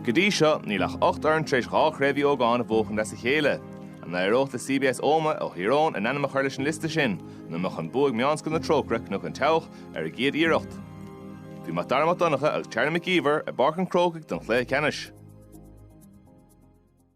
Go dtí seo, níl ach ocht fhoireann tar éis dhá Chraobh Uí Ógáin a bhuachan as a chéile. An n-éireodh le CBS Ómaigh ó Thír Eoghain a n-ainm a chur leis an liosta sin nó an mbeadh an bua ag Meánscoil na Trócaire, Cnoc an tSeabhaic, ar a gcéad iarracht? Bhí Mac Dara Mac Donncha agus Charlie Mac Íomhair i bPáirc an Chrócaigh don chluiche ceannais.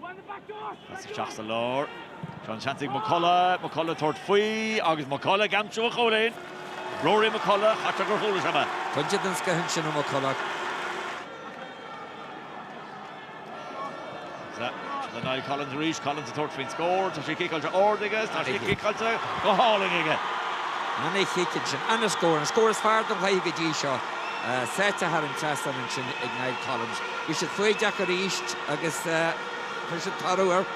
Pas isteach sa lár. Seo an seans ag McCullough. McCullough ag tabhairt faoi agus McCullough ag aimsiú an chúilín. Rory McCullough, cheapfá gur chuala sé mé. Pointe den scoith ansin ó McCullough. Le Niall Collins arís, Collins ag tabhairt faoin scór, tá sé ciceáilte ard aige, tá sé ciceáilte go hálainn aige. Ana chic ansin, ana scór, an scór is fearr den chluiche go dtí seo. Sáite thar an trasnán ansin ag Niall Collins. Bhí siad foighdeach arís agus chuir siad toradh air.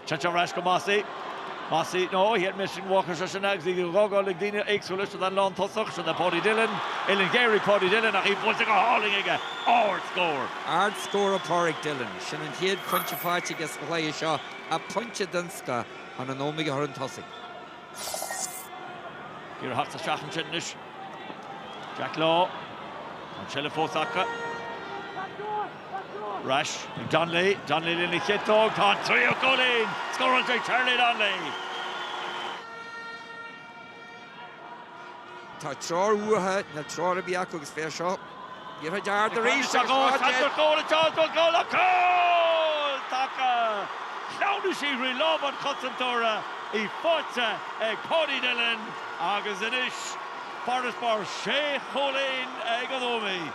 Chas sé ar ais go Mossy. Mossy, no, he had missed in Walker seo sin agus í á fágáil ag daoine éagsúla, sin an lántosach, sin é Paudie Dillon, uillinn ghéar ag Paudie Dillon ach í buailte go hálainn aige, ardscór! Ardscór ó Pauric Dillon, sin an chéad phointe faighte aige sa chluiche seo, á, pointe den scoth chun an Ómaigh a chur chun tosaigh. Iarraidh thart sa seachaint sin anois. Jack Law. Tá an seilbh fós acu. Ar ais ag Donnelly. Donnelly lena chiotóg. Tá an tríú cúilín scóráilte ag Charlie Donnelly. Tá treoir uatha, níl treoir ar bith acu agus féach seo, iarrtha dearg arís agus dhá deimhin! Seans ar chúl agus seans ar chúl, cúl atá acu! Shleamhnaigh sí thrí lámha an chosantóra, í faighte ag Paudie Dillon agus anois farasbarr sé chúilín ag an Ómaigh.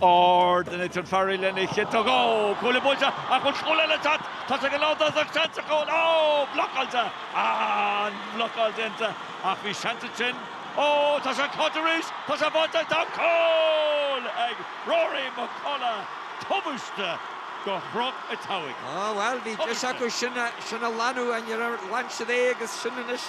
Ard, Nathan Farrell lena chiotóg, Ó, cuaille buailte, ach bhfuil cúl eile ag teacht? Tá sé ag an lántosach, seans ar chúl, Ó, blocáilte! An blocáil déanta, ach bhí seans ansin, Ó, tá sé acu arís, tá sé buailte, tá cúl ag Rory McCullough, tubaiste do Chnoc an tSeabhaic. Á, bhuel, bhí deis acu sin a ghlanadh, ach níor ghlan siad é agus sin anois.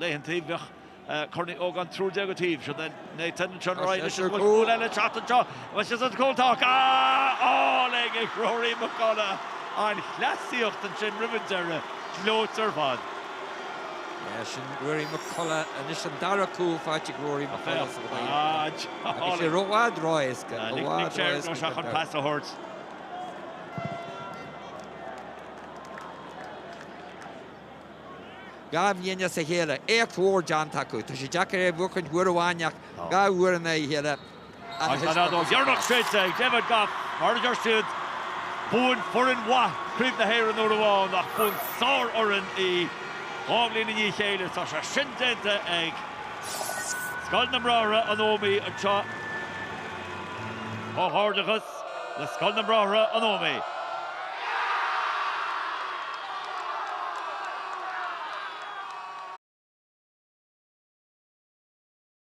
Léitheann taobh, bheadh Corn Uí Ógáin triúr déag an taobh, sin é Nathan, an sean Ryan, is bhfuil cúl eile ag teacht anseo, agus is an cúl atá acu, á fháil ag ag Rory McCullough, an chleasaíocht ansin roimh an deireadh, gleoite ar fad. Leis sin Rory McCullough, anois an dara cúl faighte ag Rory McCullough sa chluiche. Tá sé i bhfad ró-éasca, i bhfad ró-éasca chun pas a thabhairt. Dhá bhliain as a chéile. Éacht mhór déanta acu. Tá sé deacair é a bhuachaint uair amháin ach dhá uair i ndiaidh a chéile, An fheadóg dheireanach séidte ag David Gough, mar a deir siad, buann foireann mhaith Craobh na hÉireann uair amháin ach buann sárfhoireann í dhá bhliain i ndiaidh a chéile. Tá sé sin déanta ag Scoil na mBráithre, an Ómaigh, anseo. Comhghairdeachas. le Scoil na mBráithre an Ómaigh.